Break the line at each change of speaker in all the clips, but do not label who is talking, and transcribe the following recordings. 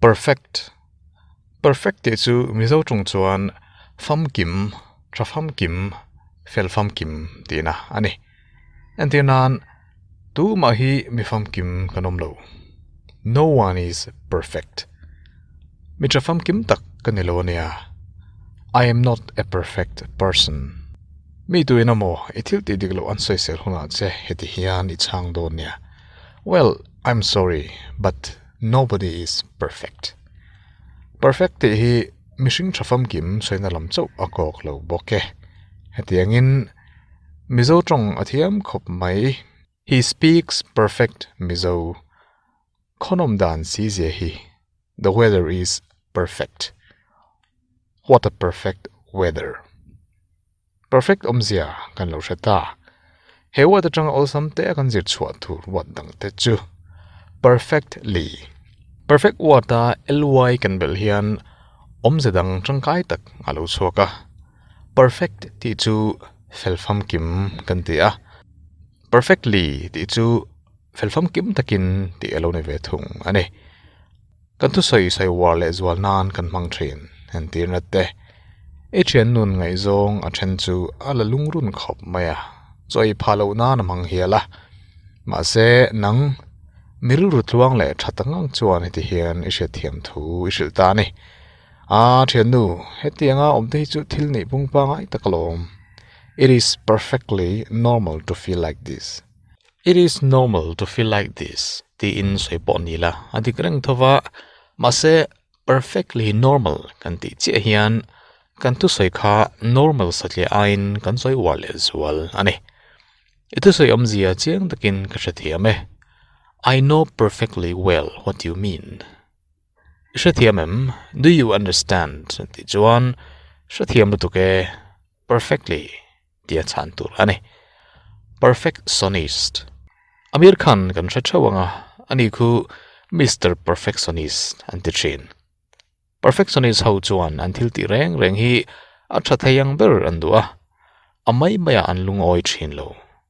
Perfect, Perfect tih chu Mizo ṭung chuan famkim, ṭha famkim, fel famkim tihna a ni. Entir nan. Tumah hi mi famkim kan awm lo. No one is perfect. Mi tha famkim tak ka ni lo a nia. I am not a perfect person. Mi tuin emaw i thil tih dik loh an sawisel hunah che heti hian i chhang dawn nia. Well, I am sorry, but nobody is perfect. Perfect tih hi mihring tha famkim sawiina lam chauh a kawk lo bawk e. Hetiangin. Mizo tawng a thiam khawp mai. He speaks perfect Mizo. Khawnom dan si zia hi. The weather is perfect. What a perfect weather. Perfect awm zia kan lo hre ta. He word atanga awlsam te a kan zir chhuah tur word dang te chu perfectly, perfect word a ly kan belh hian awmze dang tangkai tak a lo chhuak a. Perfect tih chu felfam kim kan ti a, perfectly tih chu felfam kim takin tih a lo ni ve thung a ni. Kan thusawi sawivuar leh zual nan kan hmang thin en tih a nat e. I thiannun ngaihzawng a then chu a la lungrun khawp mai a, chaw ei phah loh nan a hmang hial a. Mahse nang mi rilru tluang leh that ang ang chuan hetihian i hriatthiam thu i hrilh ta a ni. Aa thiannu, hetianga awmte hi chu thil neih pungpa ngai tak ala awm. It is perfectly normal to feel like this. It is normal to feel like this tiin sawi pawh a ni la, a dik reng tho va. Mahse, perfectly normal kan tih chiah hian kan thusawi kha normal satliah aiin kan sawi uar leh zual a ni. I thusawi awmzia chiang takin ka hre thiam e. I know perfectly well what you mean. Hrethiam em? Do you understand? tih chuan hrethiam lutuk e perfectly tia chhan tur a ni. Perfectionist. Amir Khan kan hre theuh ang a, ani khu Mister Perfectionist an ti thin. Perfectionist ho chuan an thil tih reng reng hi a tha thei ang ber an duh a, a mai maia an lungawi thin lo.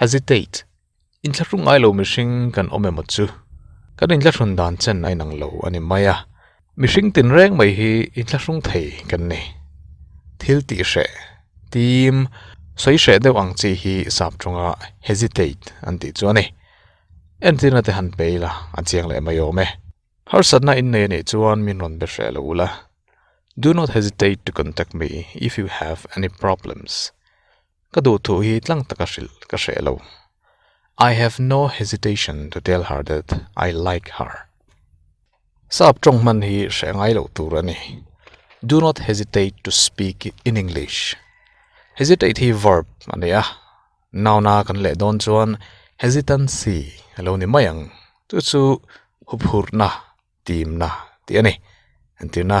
Hesitate, In thla hru ngai lo mihring kan awm emaw chu? Kan in thla hrun dan chen a inang lo a ni mai a. Mihring tin reng mai hi in thla hrung thei kan ni. Thil tih hreh, tim, sawi hreh deuh ang chi hi sap ṭanga hesitate an tih chu a ni. Entirna te han pe ila, a chiang leh mai awm e. Harsatna in nei a nih chuan min rawn be hreh lo la. Do not hesitate to contact me if you have any problems. Ka duhthu hi tlang taka hrilh ka hreh lo. I have no hesitation to tell her that I like her. Sap tawng hman hi hreh ngai loh tur a ni. Do not hesitate to speak in English. Hesitate hi verb a ni a, noun a kan leh dawn chuan hesitancy a lo ni mai ang. Chu chu huphurhna, timna tih a ni. Entirna.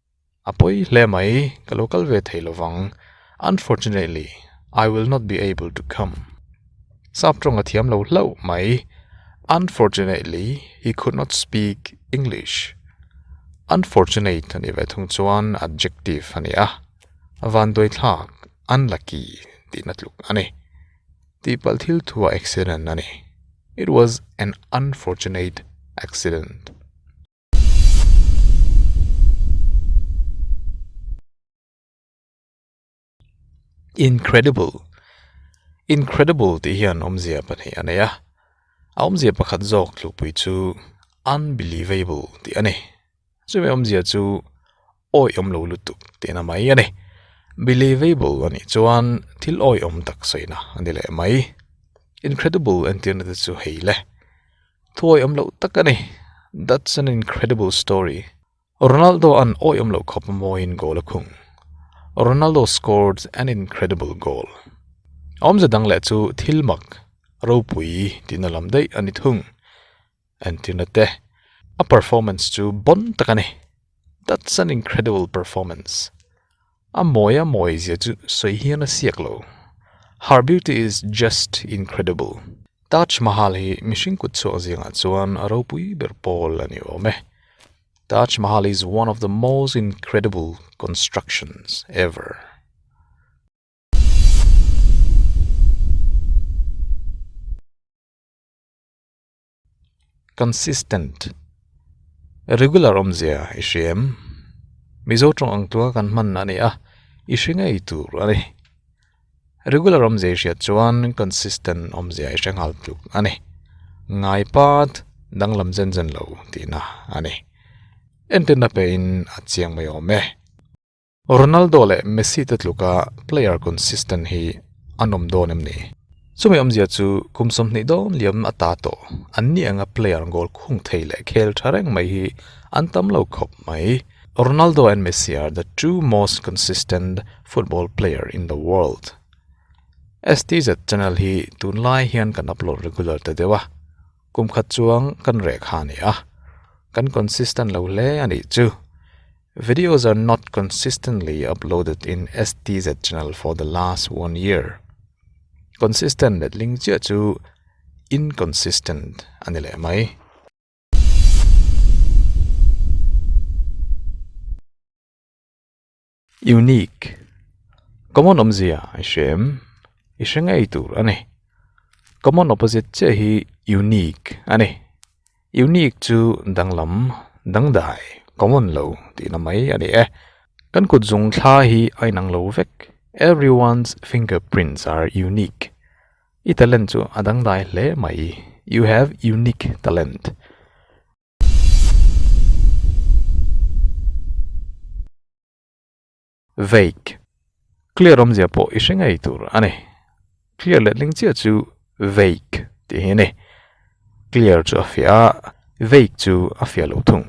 a pawi hle mai ka lo kal ve thei lo vang unfortunately I will not be able to come sap tawng a thiam lo hlauh mai unfortunately he could not speak English unfortunate a nih ve thung chuan adjective a ni a vanduaithlak unlucky tihna tluk a ni tihpalh thil thu a accident a ni it was an unfortunate accident. Incredible, incredible tih hian awmzia pahnih a nei a, a awmzia pakhat zawk tlupui chu unbelievable tih a ni. Chumi awmzia chu awi awm lo lutuk tihna mai a ni. Believable anih chuan thil awi awm tak sawina a ni leh mai. Incredible entirna te chu hei le. Thuawi awm loh tak a ni. That's an incredible story. Ronaldo an awi awm loh khawp mawiin goal a khung. Ronaldo scored an incredible goal. Awmze dang leh chu thil mak, ropui tihna lam daih a ni thung. Anthina te a performance chu bawn tak a ni that's an incredible performance a mawi a mawi zia chu sawi hian a siak lo her beauty is just incredible Taj Mahal hi mihring kut chhuak zing ah chuan a ropui ber pawl a ni awm e Taj Mahal is one of the most incredible constructions ever. consistent regular awmzia i hriam mizo tawng ang tua kan hman a ni a i hre ngei tur a ni regular awmzia i hriat chuan consistent awmzia i hre nghal tuk a ni ngai pat danglam zen zen lo tihna a ni entena pe in a chiang mai awm e. Ronaldo leh Messi te tluka player consistent hi a nawm dawn em ni? Chumi awmzia chu kum sawmhnih dawn liam a ta tawh. An ni anga player goal khung thei leh khel tha reng mai hi an tam lo khawp mai. Ronaldo and Messi are the two most consistent football player in the world. STZ channel hi tunlai hian kan upload regular ta deuh a. Kum khat chuang kan reh kha a ni a, kan consistent lo hle a nih chu. Videos are not consistently uploaded in STZ channel for the last one year. Consistent let ling chiah chu inconsistent a ni leh mai. Unique, common awmzia i hria em? I hre ngei tur a ni. Common opposite chiah hi unique a ni. Unique chu danglam, dangdai, common lo tihna mai a ni e. Kan kut zung thla hi a inang lo vek, Everyone's fingerprints are unique. I talent chu a dangdai hle mai, You have unique talent. Vague Clear awmzia pawh i hre ngei tur a ni. Clear let hling chiah chu vague tih hi a ni. Clear chu a fiah a, vague chu a fiah loh thung.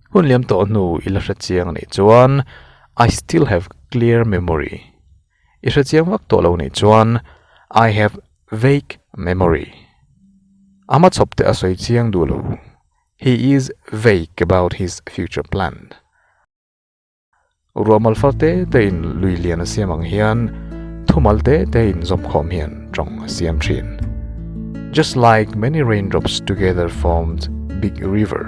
Hun liam tawh hnu i la hre chiang a nih chuan, I still have clear memory. I hre chiang vak tawh lo nih chuan I have vague memory. Ama chawp te a sawi chiang duh lo. He is vague about his future plan. Ruahmal far te te in lui lian a siam ang hian thumal te te in zawm khawm hian tawng a siam thin. Just like many raindrops together formed big river,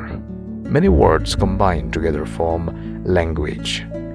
many words combined together form language.